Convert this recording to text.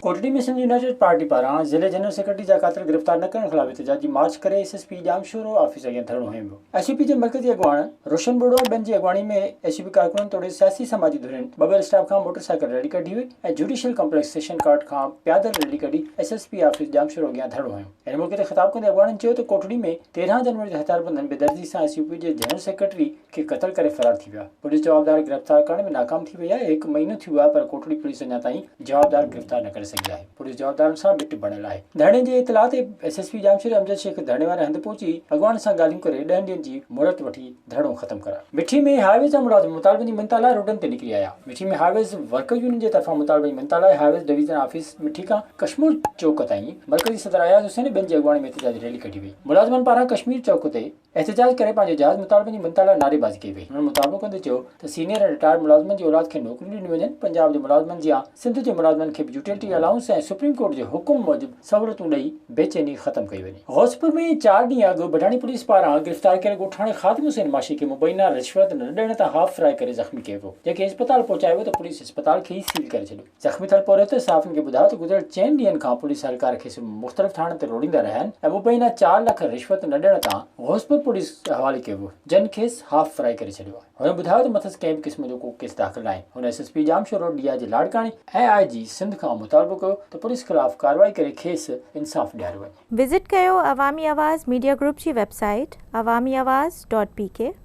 Kotri ۾ Sindh United Party پاران ضلعي general secretary جا ڪاتر گرفتار نه ڪرڻ خلاف احتجاجي مارچ ڪري S S P Jamshoro office اڳيان ڌرڻو هنيو ويو. ايس يو پي جي مرڪزي اڳواڻ روشن ٻوڙو ۽ ٻين جي اڳواڻي ۾ ايس يو پي ڪارڪنن توڙي سياسي سماجي ڌرين ٻه ٻه اسٽاپ کان موٽر سائيڪل ريلي ڪڍي هئي ۽ جوڊيشل ڪمپليڪس سيشن ڪارٽ کان پيادل ريلي ڪڍي S S P office Jamshoro اڳيان ڌرڻو هنيو. ان موقعي تي خطاب ڪندي اڳواڻن چيو ته ڪوٽڙي ۾ تيرهن جنوري تي هٿياربندن بي دردي سان ايس يو پي جي جنرل سيڪريٽري کي قتل ڪري فرار ٿي ويا، پوليس جوابدار گرفتار ڪرڻ ۾ ناڪام ٿي وئي آهي، هڪ مهينو ٿي ويو آهي پر ڪوٽڙي پوليس اڃا تائين جوابدار گرفتار نه ڪري سگهي آهي، پوليس جوابدارن سان ٻٽ بڻيل آهي، ڌرڻي جي اطلاع تي ايس ايس پي ڄامشوري امجد شيخ ڌرڻي واري هنڌ پهچي اڳواڻن سان ڳالهيون ڪري ڏهن ڏينهن جي مهلت وٺي ڌرڻو ختم ڪرايو. مٺي ۾ هاء ويز جا ملازم مطالبن جي منتا لاء روڊن تي نڪري آيا، Mithi ۾ highways worker union جي طرفان مطالبن جي منتا لاء highways division office Mithi کان ڪشمور چوڪ تائين مرڪزي صدر اياز حسين ۽ ٻين جي اڳواڻي ۾ احتجاجي ريلي ڪڍي وئي، ملازمن پاران ڪشمير چوڪ تي احتجاج ڪري پنهنجي جائز مطالبن جي منتهيء لاء نعري بازي ڪئي وئي، هنن مطالبو ڪندي چيو ته سينيئر ۽ رٽائرڊ ملازمن جي اولاد کي نوڪريون ڏنيون وڃن، پنجاب جي ملازمن جيان سنڌ جي ملازمن کي به يوٽيلٽي الائونس ۽ سپريم ڪورٽ جي حڪم موجب سهولتون ڏئي بي چيني ختم ڪئي وڃي. غوثپور ۾ چار ڏينهن اڳ بڍاڻي پوليس پاران گرفتار ڪيل ڳوٺاڻي خادم حسين ماشي کي مبينا رشوت نه ڏيڻ تان هاف سرائي ڪري زخمي ڪيو ويو، جنهن کي اسپتال پهچايو ويو ته پوليس اسپتال کي ئي سيل ڪري ڇڏيو. زخمي ٿيل پورهيت صحافين کي ٻڌايو ته گذريل چئن ڏينهن کان پوليس اهلڪار کيس مختلف ٿاڻن تي روڙيندا رهيا آهن ۽ مبينا چار لک رشوت نه ڏيڻ تان غوثپور پوليس حوالي ڪيو ويو جنھن کيس هاف فرائي ڪري ڇڏيو آهي هن ٻڌايو ته مٿس ڪنهن به قسم جو ڪو ڪيس داخل ناهي هن S S P Jamshoro D I G لاڙڪاڻي ۽ آء جي سنڌ کان مطالبو ڪيو ته پوليس خلاف ڪارروائي ڪري کيس انصاف ڏياريو وڃي. وزٽ ڪيو عوامي آواز ميڊيا گروپ جي website Awami Awaz dot P ڪي.